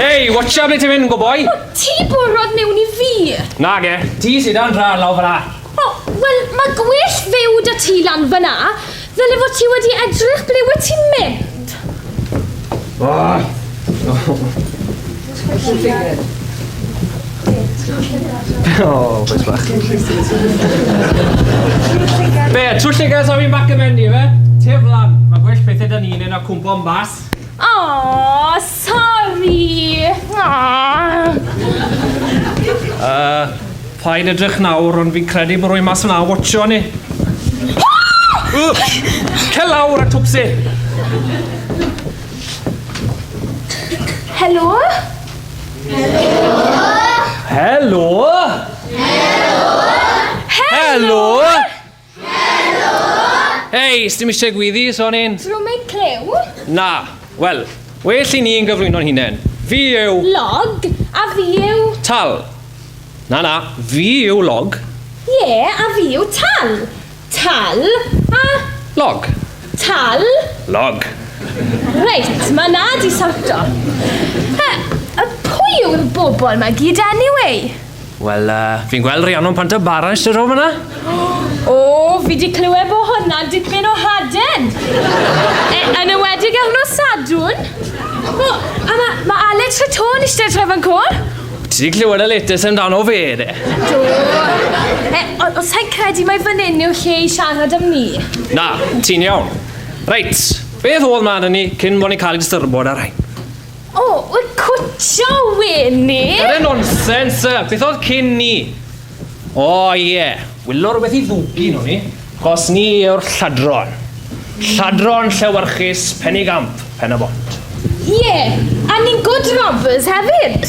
Hei, watch out ble ti'n mynd, go boy! O, ti bwrwad mewn i fi! Na ge, ti sydd dan dra lawr fyna. O, wel, mae gwell fyw da ti lan fyna. Fel efo ti wedi edrych ble wyt ti'n mynd? Oh, boys bach. Be, twll llygad sa fi'n bac y menu, fe? Tef lan, mae gwell pethau da ni'n ei na cwmpo yn bas. Aww, sori! Yy, paid edrych nawr, ond fi'n credu bod rwy'n mas yna watcho ni. Cer lawr a twpsi! Helo? Helo? Helo? Helo? Hei, sdim eisiau gwyddi, sonyn? Drwmig clyw? Na. Wel, well i ni yn gyflwyno'n hunain. Fi yw... Log, a fi yw... Tal. Na, na, fi yw log. Ie, yeah, a fi yw tal. Tal, a... Log. Tal. Log. Reit, mae na di sorto. He, pwy yw'r bobl mae gyd anyway? Wel, uh, fi'n gweld Rhiannon pant o bara eisiau rhoi fyna. O, oh, fi di clywed bod hwnna'n dipyn o haden. E, yn ywedig ar nos sadwn. O, a mae ma Alex Fatôn eisiau tref yn cwr? Ti di clywed y letes amdano fe, de? Do. E, os sa'n credu mae fan hyn yw lle i siarad am ni. Na, ti'n iawn. Reit, beth oedd man ni cyn bod ni'n cael ei distyrbod ar rhain? O, wyt cwtio wyn ni? Yr un nonsens, sir. Beth oedd cyn ni? O, ie. Wylo rhywbeth i ddwgu nhw ni. Cos ni yw'r lladron. Lladron llewyrchus, pen i gamp, pen y bont. Ie, a ni'n good robbers hefyd.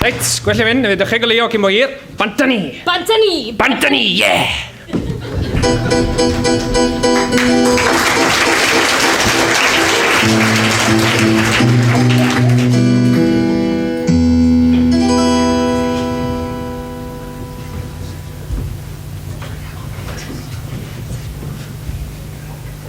Reit, gwell i fynd, ydych chi'n golio cyn bo hir. Bant â ni! Bant â ni! Bant â ni, ie!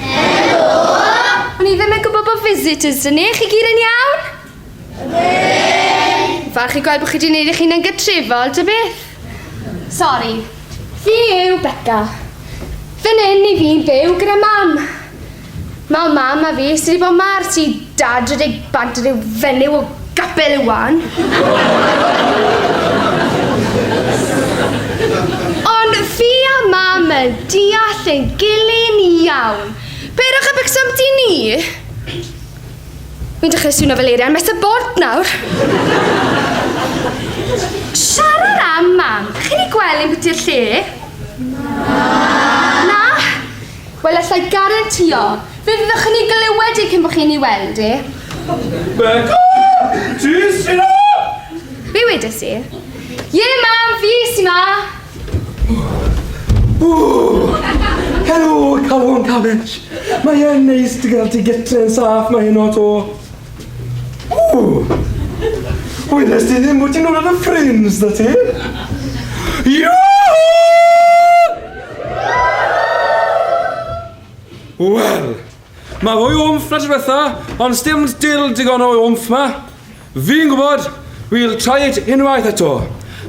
Helo! O'n i ddim yn gwybod bod visitors dyn ni, chi gyd yn iawn? Ydyn! Falch i gweld bod chi wedi gwneud eich hun yn gytrefol, dy beth? Sori. Fi yw Becca. Fy nyn i fi'n byw gyda mam. Mae mam a fi sydd wedi bod ma'r ti dad rydeg bant rhyw fenyw o Capel y Wan. Ond fi a mam yn deall ein gilyn iawn. Peidiwch â becso amti ni. Fi'n dechrau swnio fel eirian mes y bord nawr. Siarad am mam, chi'n ei gweld yn biti'r lle? Na. Na? Wel, alla i garantio, fe fyddwch yn ei glywed e cyn bod chi'n ei weld e. Beca! Ti sy'n a! Be wedes i? Ie, mam, fi sy'n ma! Helo, Calon Cabbage. Mae e'n neis dy gael ti gytre yn saff mae heno to. Ww! Wyddes ti ddim bod ti'n rhywbeth yn ffrims da ti? Iww! Wel, mae fwy o wmff na trefetha, ond sdim dil digon o wmff ma. Fi'n gwybod, we'll try it unwaith eto.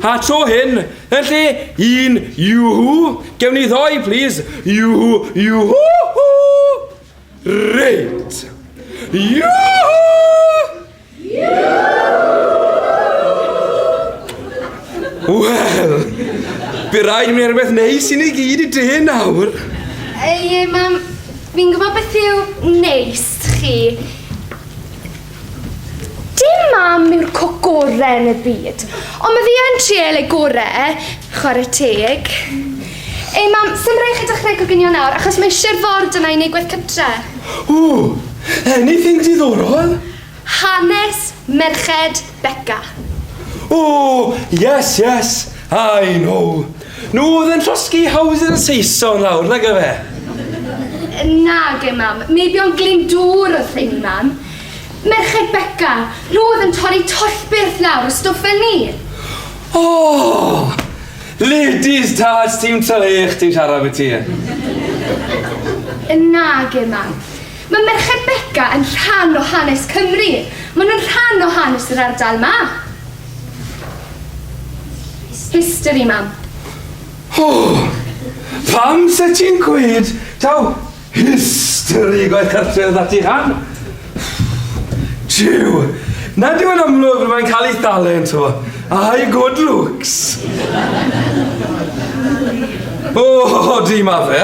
A tro hyn, yn lle un iwhw, gewn ni ddoi, please. Iwhw, iwhw! Reit! Yoo-hoo! Wel, by rhaid mi erbeth neis i ni gyd i dy nawr. Ei, mam, fi'n gwybod beth yw neis chi. Dim mam yw'r coc gorau yn y byd, ond mae fi yn trial ei gorau, chwarae teg. Ei mam, sy'n rhaid chi dechrau coginio nawr, achos mae eisiau'r ford yna i wneud gwaith cytre. Ooh, anything diddorol? Hanes merched Beca. Ooh, yes, yes, I know. Nhw oedd yn llosgi hawdur yn Saeson nawr, nag efe? Nage, mam. Meibion Glyndŵr oedd rheiny, mam. Merched Beca. Nhw oedd yn torri tollbyrth lawr o stwff fel ni. O! Ladies Tâj, ti'n twlu eich ti'n siarad ambiti. Nage, mam. Mae Merched Beca yn rhan o hanes Cymru. Maen nhw'n rhan o hanes yr ardal 'ma. History, mam. O! Pam 'set ti'n gweud taw history gwaith cartref 'da ti, han? Jiw! Nad yw e'n amlwg mae'n cael ei thalent o, a'i good looks. O, odi, ma fe.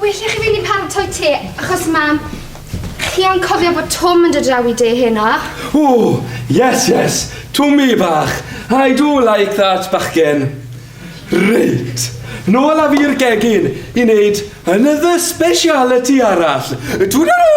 Well i chi fynd i paratoi te, achos ma'... Chi yn cofio bod Twm yn dod draw i de heno? O! Yes, yes! Twmi bach! I do like that bachgen! Reit, nôl â fi'r gegin i wneud another speciality arall. Twdalŵ!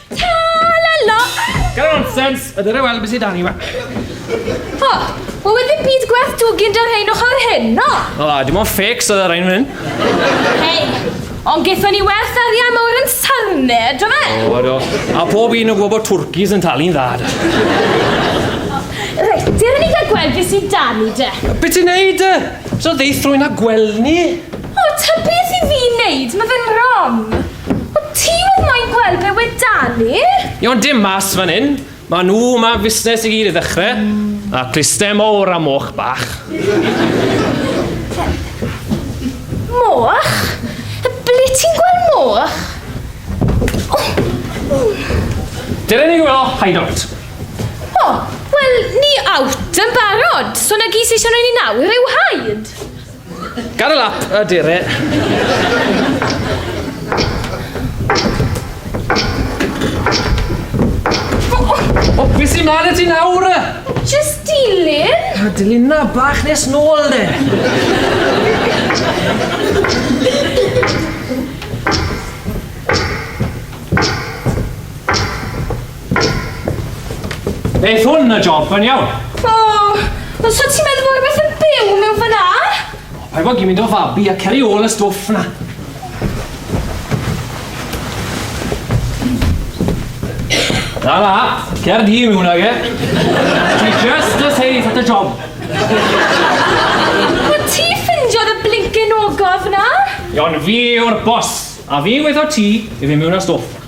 Tra-la-la! Gyda nonsens! A dyna weld beth sydd dan ni yma. O, wel wedi ddim byd gwerth dwgyn da rhain o'ch ar hyn, no? O, dim ond ffecs oedd ar ein hyn. Hei, ond gethon ni werth arian mawr yn sarne, do fe? O, do. A pob un yn gwybod bod twrcis yn talu'n dda, da. Reit, dyr ni gael gweld beth sydd dan ni, de. Beth ti'n neud, de? So ddeithrwyn a gweld ni? O, ta beth i fi wneud? Mae fe'n rom. O ti oedd moyn gweld be wedani? Iawn dim mas fan hyn. Mae nhw yma am fusnes i gyd i ddechrau. A cluste mowr a moch bach. Moch? Ble ti'n gweld moch? Dyna ni welo hideout. O, wel, ni out yn barod. So na gys eisiau rhoi ni nawr yw haid. Got a lap, a dear it. O, beth sy'n man y ti nawr? Just dilyn. A dilyn na bach nes nôl de. Neith hwn y job yn iawn. O, ond so ti'n meddwl bod rhywbeth yn byw mewn fyna? O, paid bod gymint o fabi a ceri ôl y stwff na. Na, na, cer di mewn ag e. Ti just a safe at the job. O ti ffindiodd y blinkin ogof na? Iawn, fi yw'r boss, a fi'n gweithio ti i fi mewn â stwff.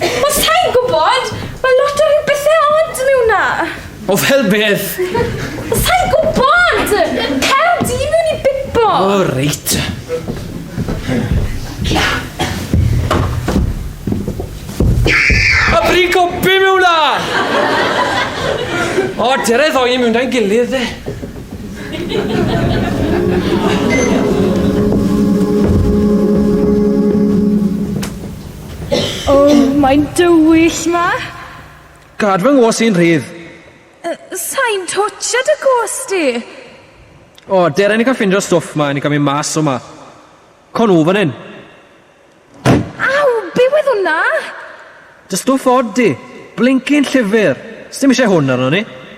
Wel, sa'n gwybod. Mae lot o rhyw bethau od mewn na. O, fel beth? Wel, sa'n gwybod. Cael di mewn i bipo. O, oh, reit. A bri copi mewn na. O, dyr e ddoi mewn da'n gilydd, e. O, mae'n dywyll 'ma! Gad fy ngos i'n rhydd! Sai'n twtsio dy gos di! O, dere ni cael ffindio stwff 'ma i ni gamu mas o 'ma. Co nhw fan hyn! Aw, be oedd hwnna? Dy stwff od di! Blincin llyfr! Sdim eisiau hwn arno ni!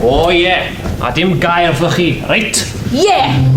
O oh, ie, yeah. a dim gair wrthoch chi, reit? Ie! Yeah.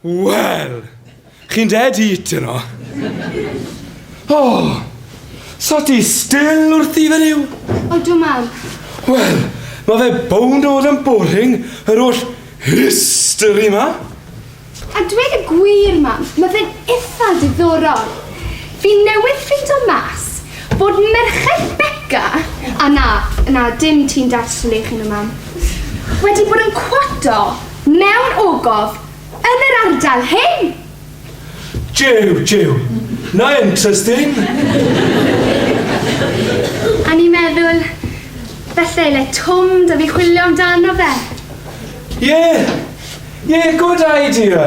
Wel! Chi'n dead heat yn o. Oh! So ti still wrth i fe niw? O dw mam. Wel, mae fe bound oed yn boring, yr oll history ma. A dweud y gwir, mam, mae fe'n eitha diddorol. Fi newydd ffeindio mas bod merched Becca, a na, na, dim ti'n darslu chi nhw, mam, wedi bod yn cwato Mewn ogof yn yr ardal hyn! Jiw, jiw. Na interesting! A ni'n meddwl, falle le twm 'da fi chwilio amdano fe. Ie, ie, good idea.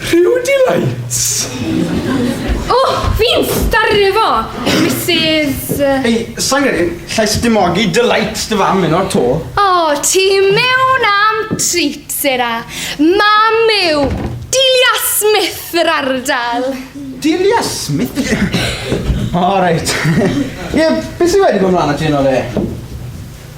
Rhyw delights! O! Fi'n staru efo Misus yy... Ei, sai'n credu llais y dimogi delights dy fam heno 'to. O, ti mewn am treat, Sarah. Mam yw Delia Smith yr ardal. Delia Smith? O reit. Ie, be sy wedi bod mlan 'na ti heno de?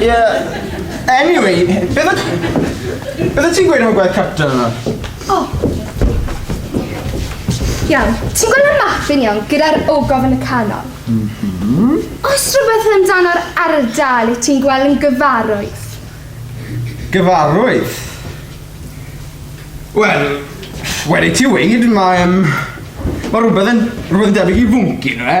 Yeah. Anyway, beth o... Beth o ti'n gweud am y gwaith capta yna? O. Oh. Iawn, ti'n gweld y map yn iawn gyda'r ogof yn y canol? Mm -hmm. Oes rhywbeth amdano'r ardal i ti'n gweld yn gyfarwydd? Gyfarwydd? Wel, wedi ti weid, mae... Um, mae rhywbeth yn, rhywbeth yn debyg i fwnci, nhw e?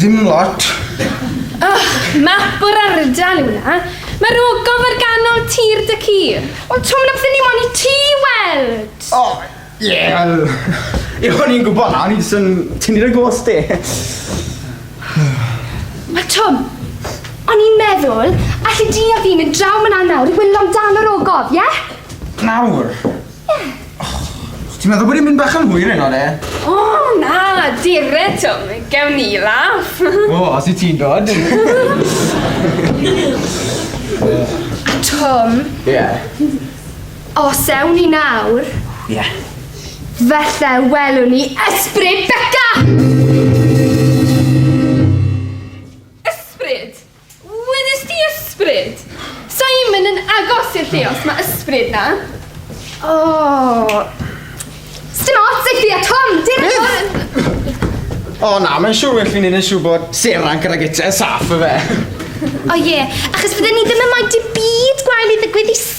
Dim lot. Oh, map o'r ardal yw na. Mae'r ogof ar ganol tir dy ci. Ond Tom, na fydden ni mo'n i ti weld. O, oh, ie, yeah, wel... Ie, o'n i'n gwybod na, o'n i'n swn ti'n i'r gos di. Mae Tom, o'n i'n meddwl, allu di a fi mynd draw myna nawr i wylio amdano'r ogof, ie? Yeah? Nawr? Ti'n meddwl bod i'n mynd bach yn hwyr heno de? O na, dire Twm, gewn ni laff. O, os i ti'n dod. Twm. Ie. Yeah. Os ewn ni nawr. Ie. Yeah. Felly welwn ni ysbryd Beca! Wedest ti ysbryd? Simon yn agos i'r lle os mae ysbryd na. O! Sdim ots i ti a Tom, dim ots! O na, mae'n siŵr well fi'n neud yn siŵr bod Seran gyda gytre saff y fe. O ie, achos fydden ni ddim yn moyn dim byd gwael i ddigwydd i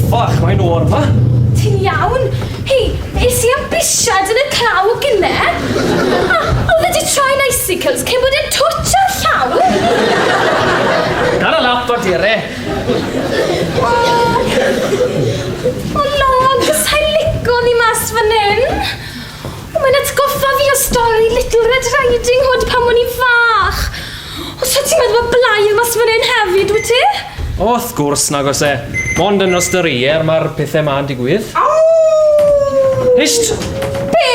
Ffach, mae nhw o'r fa! Ti'n iawn? Hei, es i am bisiad yn y claw o gynne. A, oedd wedi troi'n icicles cyn bod e'n twtch ar llaw. Dara lap o dire. O, o log, sa'i lico ni mas fan hyn. O, mae'n atgoffa fi o stori Little Red Riding Hood pan o'n i'n fach. O, so ti'n meddwl bod blai yn mas fan hyn hefyd, wyt ti? O, wrth gwrs, nag os e. Mond yn nos dyrier mae'r pethau ma'n digwydd. Aww! Hysht! Be?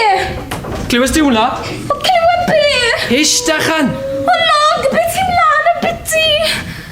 Clywes di hwnna? O, clywed be? Hysht, achan! O, log, beth sy'n mlaen am biti?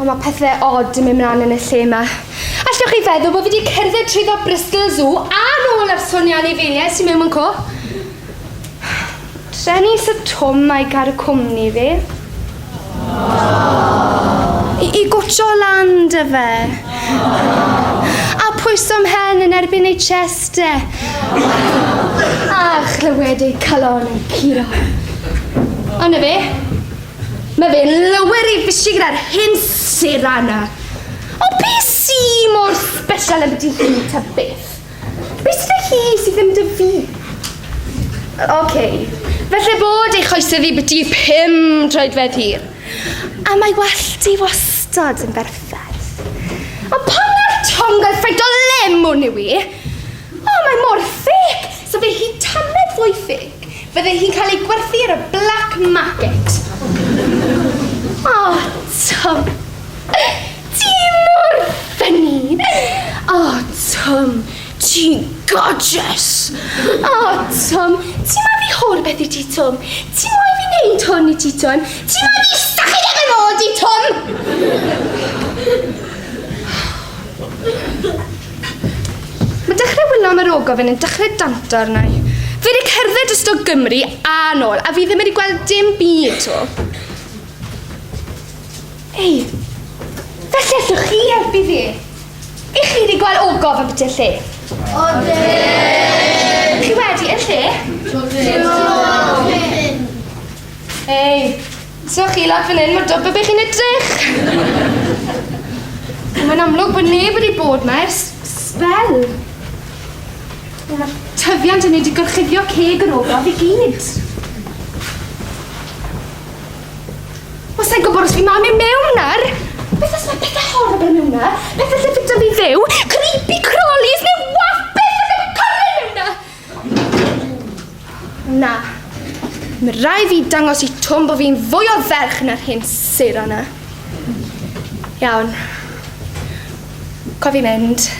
O, mae pethe odd yn mynd mlaen yn y lle yma. Allwch chi feddwl bod fi wedi cerdded trwy ddo Bristol Zoo a nôl ar Sony Anifeiliaid sy'n mewn mewn co? Dren i Sir Twm a'i gar y cwmni fi. I, i gwtio lan dy fe. A pwyso mhen yn erbyn ei chest e. A chlywed ei calon yn curo. Ond na fe, Mae fy lywyr i fysi gyda'r hyn sydd arna. O be si mor special am dy hi ta beth? Be sydd â hi sydd ddim dy fi? Oce, okay. felly bod ei choesau fi byti pum troedfedd hir. A mae wallt i wastad yn berffaith. Ond pan mae'r tongoedd ffraint o lemwn yw i, o, mae mor ffeg, so fe hi tannedd fwy ffeg. Fydde hi'n cael ei gwerthu ar y black market. O, Twm! Ti mor ffynni! O, Twm, ti'n gorgeous! O, Twm, ti moyn fi hol beth i ti, Twm? Ti moyn fi neud hwn i ti, Twm? Ti moyn fi stachu dy ben ôl di, Twm? Mae dechrau wylo am yr ogof yn yn dechrau danto arna i. Fi wedi cerdded dros do Gymru a nôl, a fi ddim wedi gweld dim byd to. Ei, fe lleswch chi helpu fi. I chi wedi gweld ogof yn biti'r lle? Odi! Chi wedi yn lle? Dim ond. Ei, So chi lawr fan hyn, mae'n dod be chi'n edrych! Mae'n amlwg bod neb wedi bod ma ers sbel. Mae'r tyfiant yn mynd i gorchuddio ceg yr ogof i gyd. Wel, sa'n gwybod os fi mam i mewn nawr! Beth os mae pethau horrible mewn na? Pethau sy'n ffitio fi fyw? Creepy crawlies neu wapeth sy'n efo cornel mewn na? Na. Mae rai fi dangos i Twm bod fi'n fwy o ferch na'r hyn sir o'na. Iawn. Cofi mynd.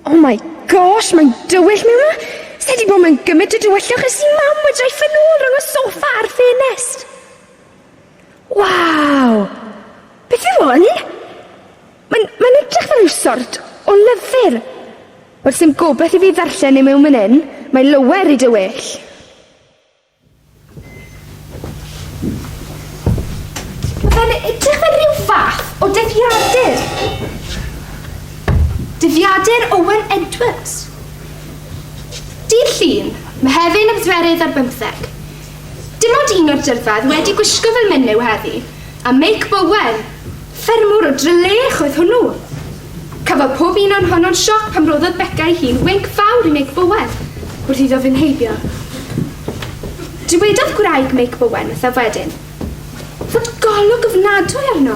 Oh my gosh, mae'n dywyll mewn yma. Sa'i wedi bod mewn gymryd o dywyllwch ers i mam wedi rhoi ffynol rhwng y sofa a'r ffenest. Waw! Beth yw hwn? Mae'n mae'n edrych fel rhyw sort o lyfr. Wel, sdim gobeth i fi ddarllen e mewn man 'yn. Mae lower i dy well. Mae fe'n edrych fel rhyw fath o dyddiadur. Dyddiadur Owen Edwards. Dydd Llun, Mehefin y bedwerydd ar bymtheg. Dim ond un o'r dyrfaoedd wedi gwisgo fel menyw heddi, a Meic Bowen, ffermwr o Drylech oedd hwnnw. Cafodd pob un o'n honno'n sioc pan roddodd Beca ei hun winc fawr i Meic Bowen wrth iddo fynd heibio. Dywedodd gwraig Meic Bowen wrthaf wedyn fod golwg ofnadwy arno.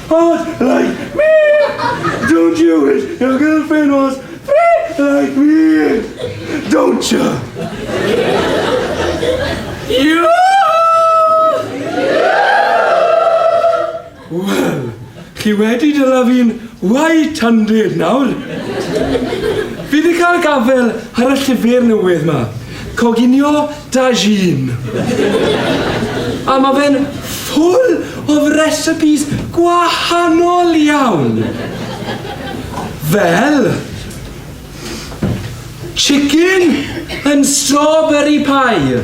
was like me! Don't you wish your girlfriend was free like me? Don't you? You! Wel, chi wedi dyla fi'n wai tandir nawr. Fi wedi cael gafael ar y llyfr newydd ma. Coginio Dajin. A mae fe'n full of recipes gwahanol iawn. Fel, chicken and strawberry pie.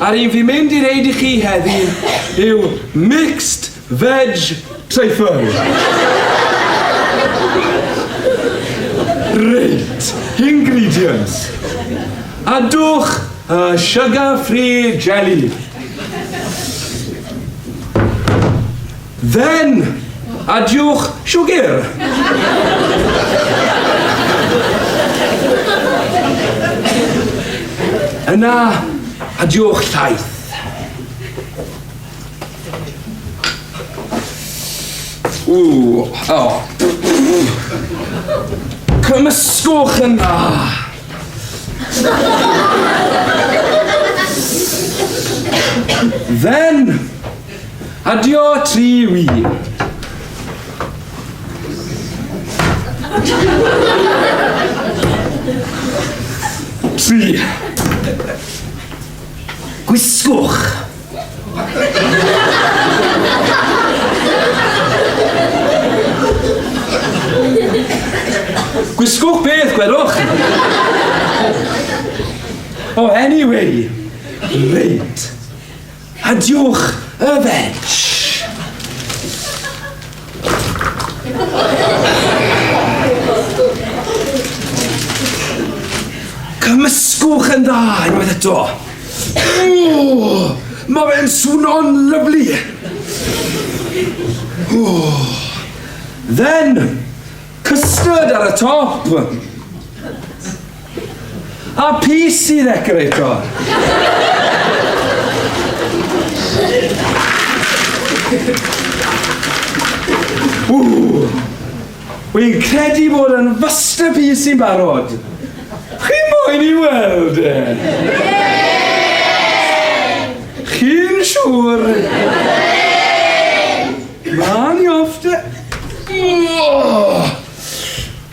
A'r un fi'n mynd i reid i chi heddi yw mixed veg truffery. Reit, ingredients. Adwch y sugar free jelly. Then! Adiwch, siwgr! Yna, adiwch llaeth. Ooh, oh. Cymysgwch yn dda. Then, Adio tri wi. Tri. Gwisgwch. Gwisgwch beth, gwelwch? Oh, anyway. Reit. Adiwch, yfed! Cymysgwch yn dda unwaith eto. Mae fe'n swno'n lyflu. Then, custard ar y top. A PC ddecorator! Ww! Wy'n credu bod yn fyster PC yn barod. Chi moyn i weld e? Chi'n siŵr? Ma'n i off de... Oh!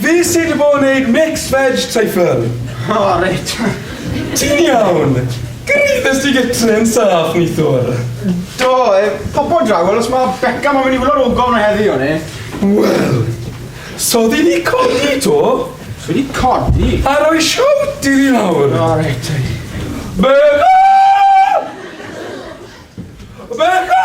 Fi sy di bod yn neud mixed veg treyffl. O reit. Ti'n iawn? Gyraeddes ti gytre yn saff neithiwr? Do, popo draw wel os ma Beca mo'n mynd i wlo'r ogof na heddi o'n i. Wel! Sodi di codi to? Fi di codi. A roi shout i fi nawr. O reit te. Beca! Beca!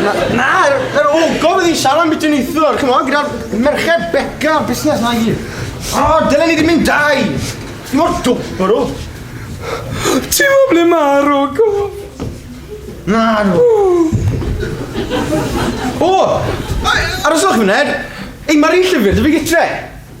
Na, na, yr ogof oedd hi'n siarad am beth i'n eithwr, come on, gyda'r merched beca o'r busnes na i. O, dylen ni ddim mynd dau. Ni mor dwbr o. Ti'n mo ble mae'r ogof? Na, no. O, aroswch i wneud. Ei, mae'r un llyfr, dwi fi gytre.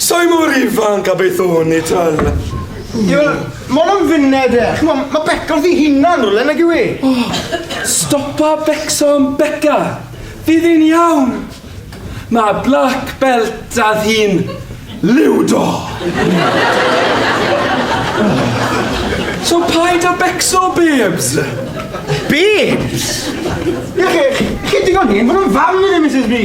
Sai mor ifanc a beth o'n i, twel. Ie, wel, ma' wnna'n funed e. Ch'mo', ma' Beca wrth 'i hunan rywle, nag yw 'i? O! Stopa becso am Beca! Fydd 'i'n iawn. Ma' black belt 'da ddi'n liwdo! So paid â becso, babes! Babes? Ie, chi, chi digon hen, ma' wnna'n fam i fi, Misus B.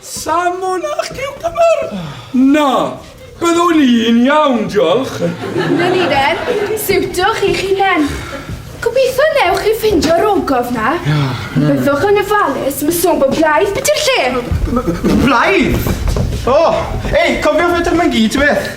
Salmon a chiwcymbyr? Na, byddwn i'n iawn, diolch. Na ni then, siwtwch eich hunain. Gobeithio newch chi ffeindio'r ogof na. Byddwch yn ofalus, mae sôn bod blaidd biti'r lle. Blaidd? O, ei, cofiwch fetr mae'n gyd, beth?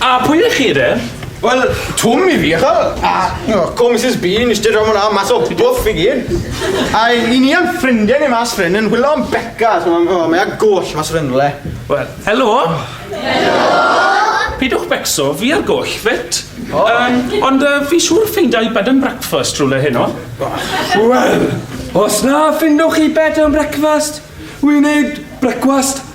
A pwy ydych chi de? Wel, Twm i fi, ychel. A, no, co Mrs Bean, ysdi rhan hwnna mas o bwff i gyn. A i ni am ffrindiau ni mas ffrind yn hwylo am Becca, so mae'n oh, mae a goll mas rynle. Wel, helo. Helo. Pidwch becso, fi ar goll, fit. Oh. Um, ond uh, fi siŵr ffeindiau bed and breakfast rhywle heno. Wel, os na ffindwch chi bed and breakfast, wy'n neud brecwast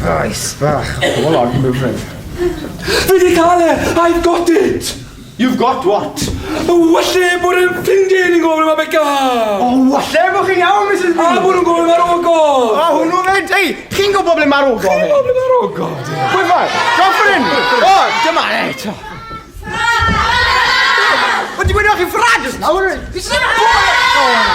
Brais bach. Come on, move it. Fi di cael e! I've got it! You've got what? Walle bod yn ffrindiau ni'n gofyn am Becca! O, walle bod chi'n iawn, Mrs Booth! A bod nhw'n gofyn ar ogol! A hwnnw fe, ei, chi'n gwybod ble mae'r ogol? Chi'n gwybod ble mae'r ogol? Pwy mae? Drop yn hyn! O, dyma, ei, to. Ffrad! Wedi gweud o'ch chi'n ffrad ys nawr? Fi sy'n gwybod!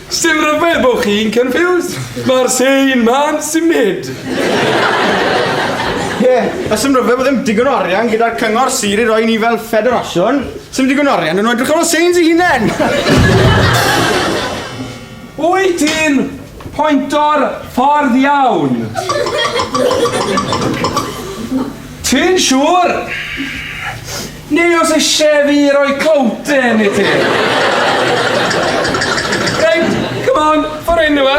Sdim rhyfedd bod chi'n confused. Mae'r same man symud. Ie, a sdim rhyfedd bod ddim digon o arian gyda'r cyngor sir i roi ni fel ffederasiwn. Sdim digon o arian yn nhw edrych ar ôl Sains i hunain. Wyt ti'n pointo'r ffordd iawn? Ti'n siŵr? Ni oes eisiau fi roi clowdyn i ti. Reit, come on, ffordd enw e.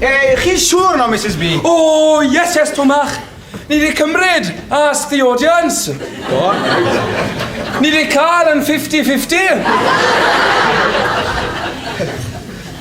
E, chi'n siŵr no, Mrs B? O, yes, yes, Tomach. Ni wedi cymryd ask the audience. Do. Ni wedi cael yn 50-50.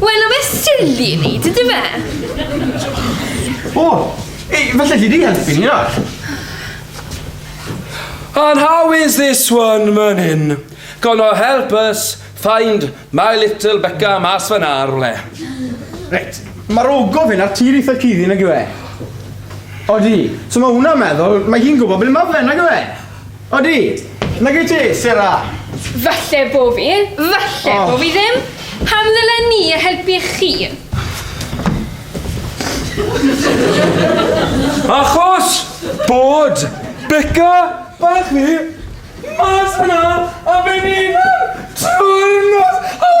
Wel, mae silly i neud, ydy fe? O! Ei, falle ti di helpu ni nawr. And how is this one, man hyn? Gonna help us find my little Becca mas fan ar rwle. Reit, mae'r ogof hyn ar tir eitha cuddi nag yw e? Odi, so mae hwnna'n meddwl, mae hi'n gwybod ble mae fe nag yw e? Odi! Nag wyt ti, Sarah? Falle bo fi, falle oh. bo fi ddim. Pam ddylen ni y helpu chi? Achos bod Becca bach ni mas yna a fe ni'n trwy'r nos. Oh!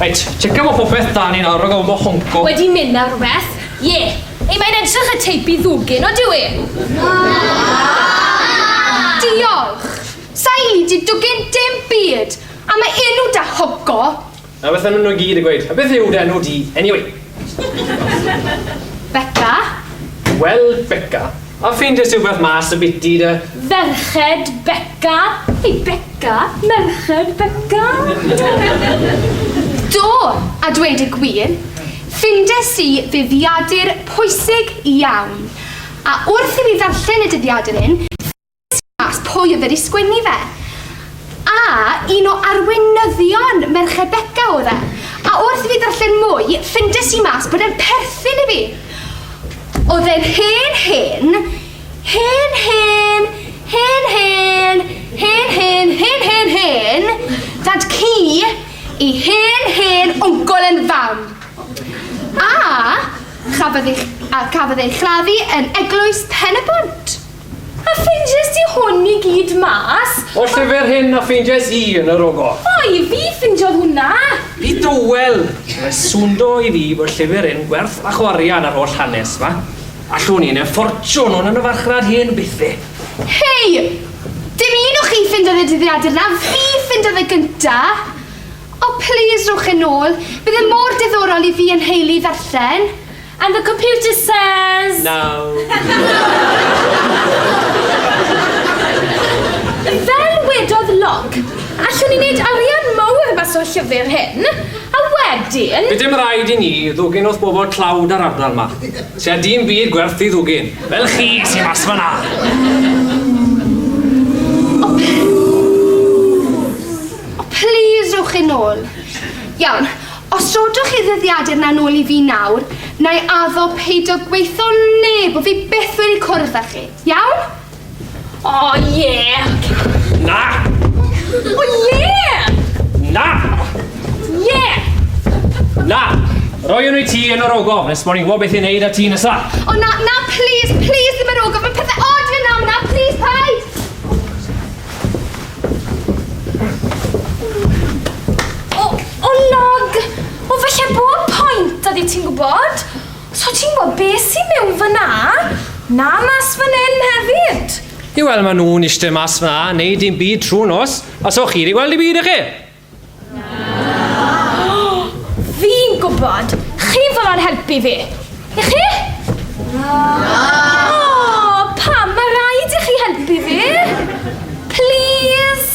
Reit, checio fo popeth da ni'n arog o fo honco. Wedi mynd ar rhywbeth? Ie. Yeah. Ei, mae'n edrych y teip i ddwgyn, o dyw e? Na! Diolch! Sa'i di dwgyn dim byd am y enw da honco. A beth am nhw gyd yn gweud, a beth yw dy enw di anyway? Beca. Wel, Beca, a ffeindiais rhywbeth mas y biti de. Ferched Beca. Hei Beca, merched Beca. Do, a dweud y gwir, ffindes i ddyddiadur pwysig iawn, a wrth i fi ddarllen y dyddiadur hyn, mas pwy oedd wedi sgwennu fe. A un o arweinyddion Merched Beca oedd e. A wrth i fi ddarllen mwy, ffindes i mas bod e'n perthyn i fi. Oedd e'n hen hen, hen hen, hen hen, hen hen, hen hen hen, dad ci i hen hen wncol yn fam. A chafodd ei, a chafodd ei chladdu yn eglwys Pen y Bont. A ffeindiais di hwn i gyd mas? O'r llyfr hyn a ffeindiais i yn yr ogo. O, i fi ffindiodd hwnna! Fi dywel! Mae swndo i fi bod llyfr hyn gwerth fach o arian ar holl hanes ma. Allwn i neu ffortiwn hwn yn y farchnad hen bythe. Hei! Dim un o chi ffindodd y dyddiadur na, fi ffindodd y gynta! O, plis rhowch e nôl, bydd e mor diddorol i fi a'n nheulu i ddarllen. And the computer says... No. Fel wedodd Locke, allwn ni wneud arian mawr mas o'r llyfr hyn, a wedyn... Bydd dim rhaid i ni ddwgyn wrth bobl tlawd ar ardal yma. Tua dim byd gwerth i ddwgyn. Fel chi sy'n mas fyna. O, please, rhywch yn ôl. Iawn. Os rodwch chi ddyddiadur 'na nôl i fi nawr, na'i addo peidio gweitho neb bo' fi byth wedi cwrdd â chi. Iawn? O ie! Na! O ie! Na! Ie! Na! Roi hwnnw i ti yn yr ogof nes bo' ni'n gwybod beth i wneud â ti nesa. O na, na, plîs, plîs ddim yr ogof, ma' pethe od yn mynd lan fan'na, plîs, paid! O! O Nog! O falle bod point 'da di ti'n gwybod? Os o ti'n gwybod beth sy'n mewn fyna, na mas fan hyn hefyd. Ie wel maen nhw'n eistedd mas fyna yn neud dim byd trwy'r nos a so chi wedi gweld dim byd dych chi? Fi'n gwybod! Chi fel o'n helpu fi! I chi? O, pam mae rhaid i chi helpu fi? Please?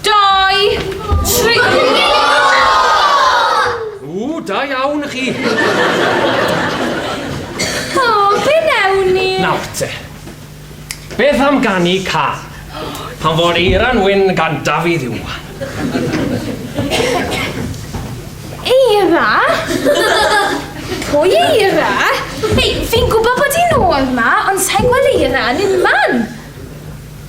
Dau! Tri! Ww, da iawn chi! O, be newn ni? Nawr te. Beth am ganu can? Pan fo'r eiran wyn gan Dafydd Iwan. Eira? Pwy Eira? Ei, fi'n gwybod bod hi'n ôl ma, ond sa'n gweld Eira yn unman.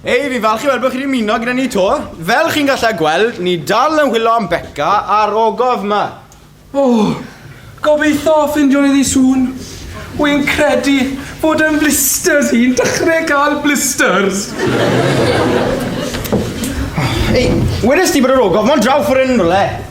Hei, fi falch i weld bod chi wedi ymuno gyda ni to. Fel chi'n gallu gweld, ni dal yn hwylo am Becca a'r ogof yma. O, gobeithio ffindio ni ddi sŵn. Wy'n credu bod yn blisters hi'n dechrau cael blisters. Ei, wedys ti bod yr ogof mo'n draw ffordd yn rhywle?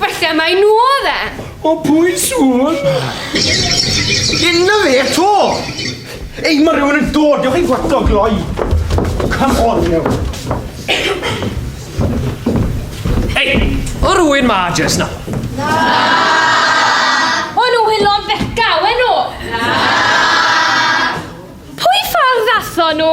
Falle mai nhw oedd e! O pwy siŵr? Dyna fe eto! Ei, mae rhywun yn dod, dewch i fwato gloi. Come on, you. Ei, o rhywun ma jes na? O nhw hylon feca, we nhw! Pwy ffordd ddathon nhw?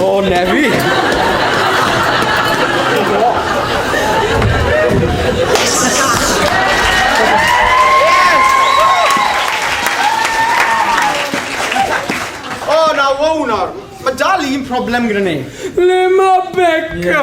O, Nefi! Mae dal un problem gyda ni. Le mae Becca?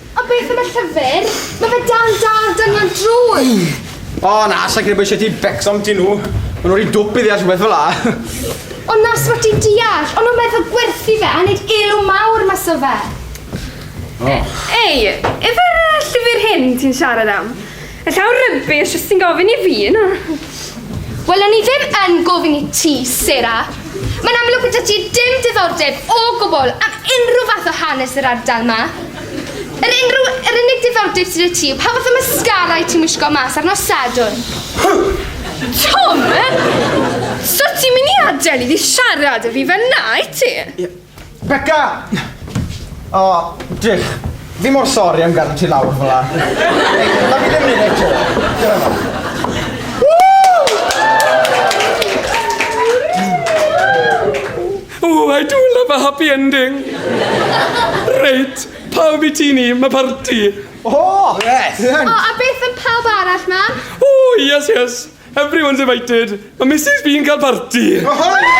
A beth am y llyfr? Mae fe dan dad dynion drwg! O na, sa'n credu bod eisiau ti becso am ti nhw. Mae nhw'n rhi dwp i ddeall rhywbeth fel la. Ond nas fod ti'n deall, ond nhw'n meddwl gwerthu fe a wneud elw mawr mas o fe. O. Ei, efe llyfr hyn ti'n siarad am? Y llaw rubbish, os ti'n gofyn i fi, na. Wel, o'n i ddim yn gofyn i ti, Sarah. Mae'n amlwg bod ti dim diddordeb o gwbl am unrhyw fath o hanes yr ardal ma. Yr, unrhyw, yr unig diddordeb sydd y ti yw pa fath o mascara i ti'n wisgo mas ar nos Sadwrn. Tom! So ti'n mynd i adael i fi siarad y fi fel na, i ti? Beca! O, drych. Fi mor sori am gadw ti lawr fel la. Na fi ddim yn ei eto. Oh, I do love a happy ending. Reit, pawb i ti ni, mae parti. Oh, yes. Oh, a beth am pawb arall, mam? Oh, yes, yes. Everyone's invited! Mae Mrs B'n cael parti! Oh,